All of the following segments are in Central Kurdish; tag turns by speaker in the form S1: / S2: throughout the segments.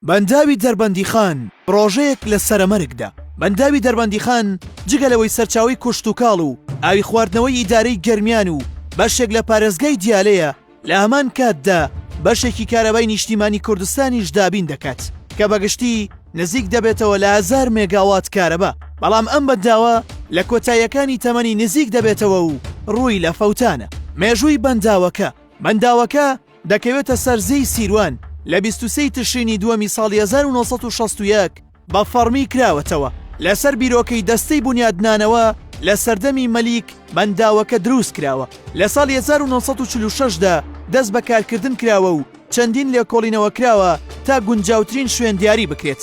S1: بەنداوی دەربەندیخان پڕۆژەیەک لە سەرەمەرگدا. بەنداوی دەربەندیخان جگە لەوەی سەرچاوەی کوشتوکاڵ و ئاوی خواردنەوەی ئیدارەی گەرمیان و بەشێک لە پارێزگای دیالەیە، لە هەمان کاتدا بەشێکی کارەبای نیشتیمانی کوردستانیش دابین دەکات کە بە گشتی نزیک دەبێتەوە لە هەزار مێگاوات کارەبا، بەڵام ئەم بەنداوە لە کۆتاییەکانی تەمەنی نزیک دەبێتەوە و ڕووی لە فەوتانە. مێژووی بەنداوەکە، بەنداوەکە دەکەوێتە سەر زێی سیروان لە بیست و سێی تشرینی دووەمی ساڵی هەزار و نۆ سەد و شەست و یەک بە فەڕمی کراوەتەوە لەسەر بیرۆکەی دەستەی بونیادنانەوە لە سەردەمی مەلیک بەنداوەکە دروست کراوە لە ساڵی هەزار و نۆ سەد و چل و شەش دا دەست بە کارکردن کراوە و چەندین لێکۆڵینەوە کراوە تا گونجاوترین شوێن دیاری بکرێت.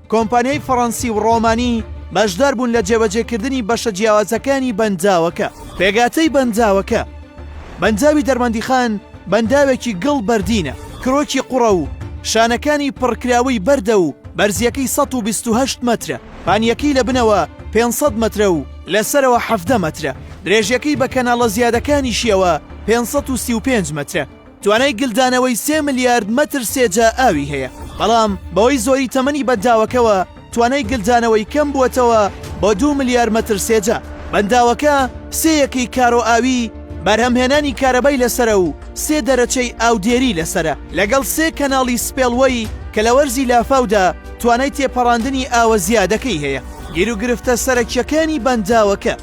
S1: کۆمپانیای فەڕەنسی و ڕۆمانی بەشدار بوون لە جێبەجێکردنی بەشە جیاوازەکانی بەنداوەکە. پێکهاتەی بەنداوەکە، بەنداوی دەربەندیخان بەنداوێکی گڵ بەردینە، کرۆکی قوڕە و شانەکانی پڕکراوەی بەردە و بەرزییەکەی سەد و بیست و هەشت مەترە، پانییەکەی لە بنەوە پێنج سەد مەترە و لە سەرەوە حەڤدە مەترە، درێژییەکەی بە کەناڵە زیادەکانیشییەوە پێنج سەد و سی و پێنج مەترە. توانای گلدانەوەی سێ ملیارد مەتر سێجا ئاوی هەیە، بەڵام بەهۆی زۆری تەمەنی بەنداوەکەوە توانای گلدانەوەی کەم بووەتەوە بۆ دوو ملیار مەتر سێجا. بەنداوەکە سێ یەکەی کارۆ ئاوی بەرهەمهێنانی کارەبای لەسەرە و سێ دەرەچەی ئاودێری لەسەرە، لەگەڵ سێ کەناڵی سپێڵوەی کە لە وەرزی لافاودا توانای تێپەڕاندنی ئاوە زیادەکەی هەیە. گیروگرفتە سەرەکییەکانی بەنداوەکە،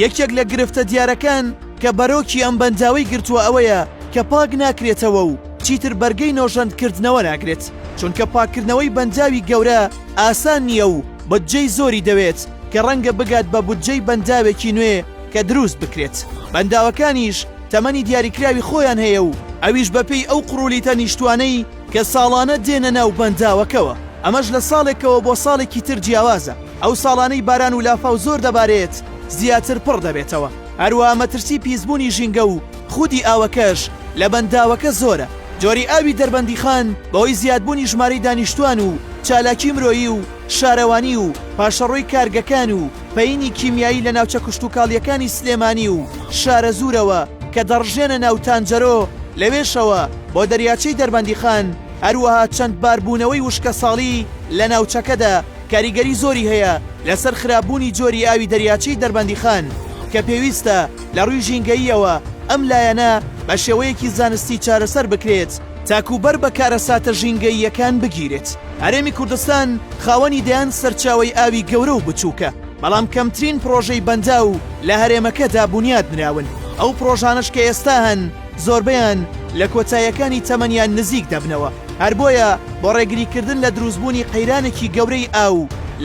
S1: یەکێک لە گرفتە دیارەکان، کە بەرۆکی ئەم بەنداوەی گرتووە ئەوەیە کە پاک ناکرێتەوە و چیتر بەرگەی نۆژەند کردنەوە ناگرێت، چونکە پاککردنەوەی بەنداوی گەورە ئاسان نییە و بودجەی زۆری دەوێت کە ڕەنگە بگات بە بودجەی بەنداوێکی نوێ کە دروست بکرێت، بەنداوەکانیش تەمەنی دیاریکراوی خۆیان هەیە و ئەویش بەپێی ئەو قڕولیتە نیشتوانەی کە ساڵانە دێنە ناو بەنداوەکەوە، ئەمەش لە ساڵێکەوە بۆ ساڵێکی تر جیاوازە، ئەو ساڵانەی باران و لافاو زۆر دەبارێت زیاتر پڕ دەبێتەوە. هەروەها مەترسی پیسبوونی ژینگە و خودی ئاوەکەش لە بەنداوەکە زۆرە. جۆری ئاوی دەربەندیخان بەهۆی زیادبوونی ژمارەی دانیشتووان و چالاکی مرۆیی و شارەوانی و پاشەڕۆی کارگەکان و پەینی کیمیایی لە ناوچە کشتوکاڵییەکانی سلێمانی و شارەزوورەوە کە دەڕژێنە ناو تانجەرۆ لەوێشەوە بۆ دەریاچەی دەربەندیخان، هەروەها چەند باربوونەوەی وشکەساڵی لە ناوچەکەدا. کاریگەری زۆری هەیە لەسەر خراپبوونی جۆری ئاوی دەریاچەی دەربەندیخان کە پێویستە لە ڕووی ژینگەییەوە ئەم لایەنە بە شێوەیەکی زانستی چارەسەر بکرێت تاکوو بەر بە کارەساتە ژینگەییەکان بگیرێت. هەرێمی کوردستان خاوەنی دەیان سەرچاوەی ئاوی گەورە و بچووکە، بەڵام کەمترین پڕۆژەی بەنداو لە هەرێمەکەدا بونیاد نراون، ئەو پڕۆژانەش کە ئێستا هەن زۆربەیان لە کۆتاییەکانی تەمەنیان نزیک دەبنەوە. هەر بۆیە بۆ ڕێگریکردن لە دروستبوونی قەیرانێکی گەورەی ئاو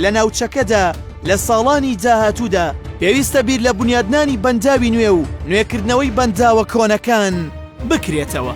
S1: لە ناوچەکەدا لە ساڵانی داهاتوودا، پێویستە بیر لە بونیادنانی بەنداوی نوێ و نوێکردنەوەی بەنداوە کۆنەکان بکرێتەوە.